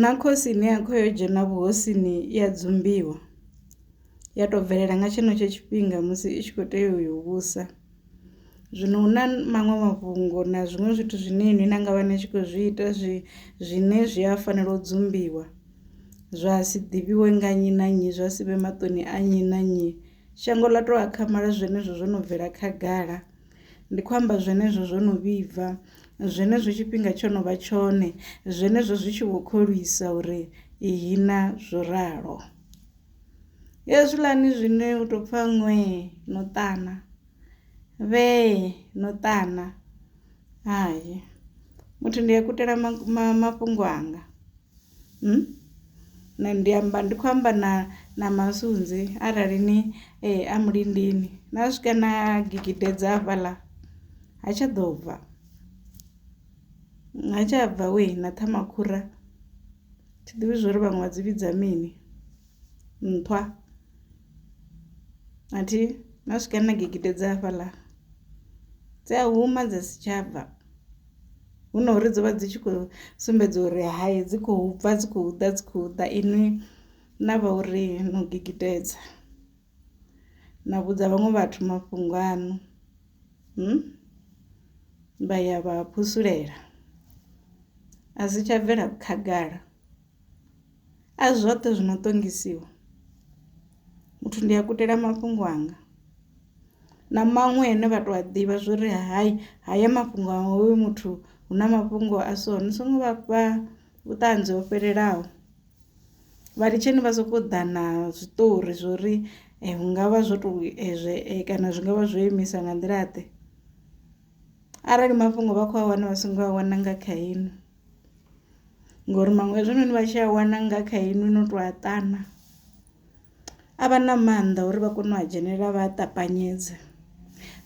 Na khosi ine ya kho yo dzhena vhuhosini i ya dzumbiwa, ya to bvelela nga tshenetsho tshifhinga musi i tshi kho tea u yo vhusa. Zwino hu na maṅwe mafhungo na zwiṅwe zwithu zwine inwi na ngavha ni tshi kho zwi ita zwi zwine zwi a fanela u dzumbiwa, zwa si ḓivhiwe nga nnyi na nnyi zwa sivhe maṱoni a nnyi na nnyi, shango ḽa to akhamala zwenezwo zwo no bvela khagala. Ndi khou amba zwenezwo zwo no vhibva, zwenezwo tshifhinga tsho no vha tshone, zwenezwo zwi tshi vho kholwisa uri ihina zwo ralo. Hezwiḽani zwine u tou pfa ṅwee no ṱana, vhee no ṱana, hai muthu ndi a kutela mafhungo anga. Nṋe ndi amba ndi khou amba na na masunzi arali ni a mulindini na swika na gidimela dza hafhaḽa ha tsha ḓo bva ha tsha bva wee na ṱhama makhura thi ḓivhi zwori vhaṅwe vha dzi vhidza mini nṱhwa a thi na swika na gidimela dza hafhaḽa dzi a huma dza si tsha bva. hu na uri dzi vha dzi tshi khou sumbedza uri hai dzi khou bva dzi khou ḓa dzi khou ḓa inwi na vha uri no gigitedza na vhudza vhaṅwe vhathu mafhungo aṋu hmm? vha ya vha phusulela a si tsha bvela khagala A zwoṱhe zwi no ṱongisiwa, muthu ndi a kutela mafhungo anga na maṅwe ane vha to a ḓivha zwori hai haya mafhungo a hoyu muthu hu na mafhungo a so ni songo vha fha vhuṱanzi ho fhelelaho vha litsheni vha soko ḓa na zwiṱori zwori hu ngavha zwo to ezwe kana zwi ngavha zwo imisa nga nḓila ḓe arali mafhungo vha kho a wana vha songo a wana nga kha inwi. ngori maṅwe hezwinoni vha tshi a wana nga kha inwi no to a ṱana a vha na mannḓa uri vha kone u a dzhenelela vha a ṱapanyedze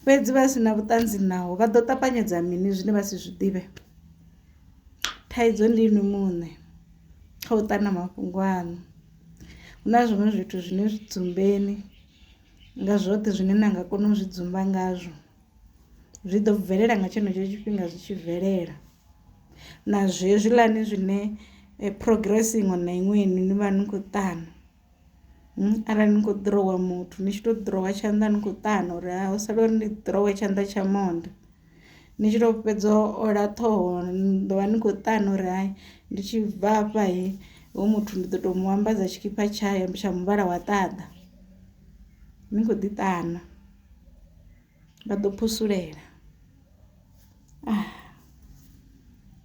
fhedzi vha si na vhuṱanzi naho vha ḓo ṱapanyedza mini zwine vha si zwi ḓivhe thaidzo ndi inwi muṋe kha u ṱana mafhungo aṋu hu na zwiṅwe zwithu zwine zwi dzumbeni nga zwoṱhe zwine na nga kona u zwi dzumba ngazwo zwi ḓo bvelela nga tshenetsho tshifhinga zwi tshi bvelela. na zwezwiḽani zwine eh, progress iṅwe na iṅwe inu ni vha ni khou ṱana hmm, arali ni khou ḓirowa muthu ni tshi tou ḓirowa tshanḓa ni khou ṱana uri ha u sala uri ni ḓirowe tshanḓa tsha monde ni tshi tou fhedza ola ṱhoho ni ḓo vha ni khou ṱana uri hai ndi tshi bva afha he ho muthu ndi ḓo tou mu ambadza tshikhipha tshayo tsha muvhala wa ṱaḓa ni khou ḓi ṱana Vha ḓo phusulela.